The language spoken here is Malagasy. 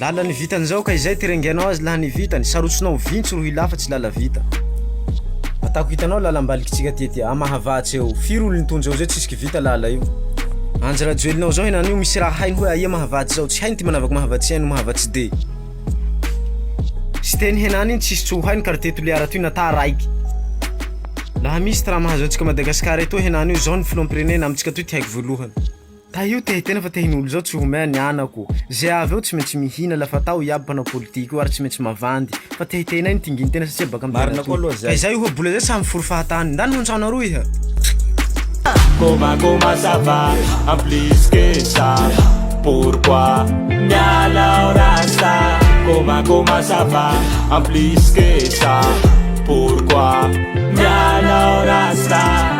Lala ny vitany zao ka izay ty rengenao azy laha ny vitany sarotsinao vintsy rohy lahy fa tsy lala vita atako hitanao lalambaliko tsika ty ty ah mahavatse eo firy olo nitonja eo zay tsisy ky vita lala io anjy rajoelinao zao henany io misy raha hainy hoe aia mahavatsy zao tsy hainy ty manavako mahavatsy aino mahavatsy de siteny henany iny tsisy tsy ho hainy quartier toliara toy nata raiky laha misy ty raha mahazo antsika madagasikara etoa henany io zao ny filohampirenena amitsika toy ty haiko voalohany Tahio te hiteny fa te hinolo zao tsy homea ny anako ze avy eo tsy maintsy mihina la fa taho iaby mpanao politika io ary tsy maintsy mavandy fa te hiteny ahy ny tingin tena satria baka am Marina koa aloha zay. Izay oha bola izay samy mifory fahatany. Ndany ho ntsao naroo iha. Koma koma ça va en plus que ça pourquoi miala ao rasta Koma koma ça va en plus que ça pourquoi miala ao rasta